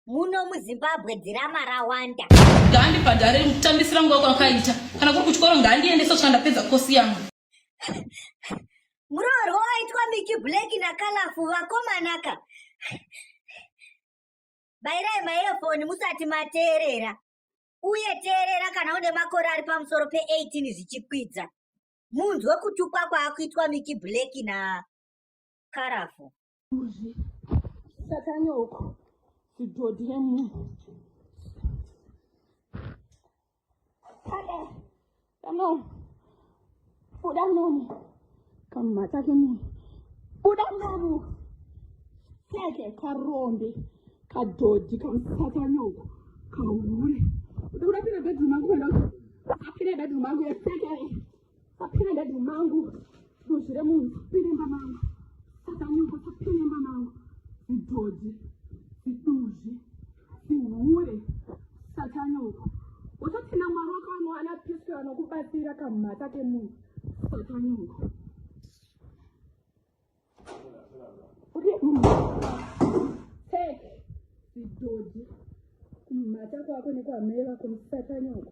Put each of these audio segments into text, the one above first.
muno muzimbabwe dzirama rawanda ngaandibhadhare kutambisira nguva kwakaita kana kuri kuchikoro ngaandiende sosvika ndapedza kosi yangu muroorwo waitwa miki black nakalafu vakomanaka bairai maefoni musati mateerera uye teerera kana une makore ari pamusoro pe18 zvichikwidza munzwe kutukwa kwaakuitwa miki black na karafu. Kuzvi satani uko zvidhodhi remunhu. Kade kano buda munomu kamumhatsa kemunhu buda munomu seke karombe kadhodhi kamusatani uko kahure. Uda kuda pina bedroom angu kwenda uko. Apina bedroom angu yeseke. Sapina dadi mangu duzvi remunhu sapinemba mangu sakanyumba sapinemba mangu zidhodhi ziduzvi zihure satanyoko utotina mwari wako anowana piso anokubatsira kamhata kemunhu satanyoko zidhodhi kumhata kwako nekwamai vako musatanyoko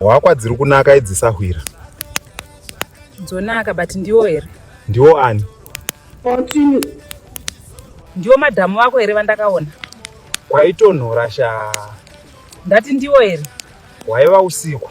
hwakwa dziri kunaka idzi sahwira dzonaka but ndiwo here ndiwo ani ndiwo madhamu wako here vandakaona kwaitonhora sha ndati ndiwo here hwaiva usiku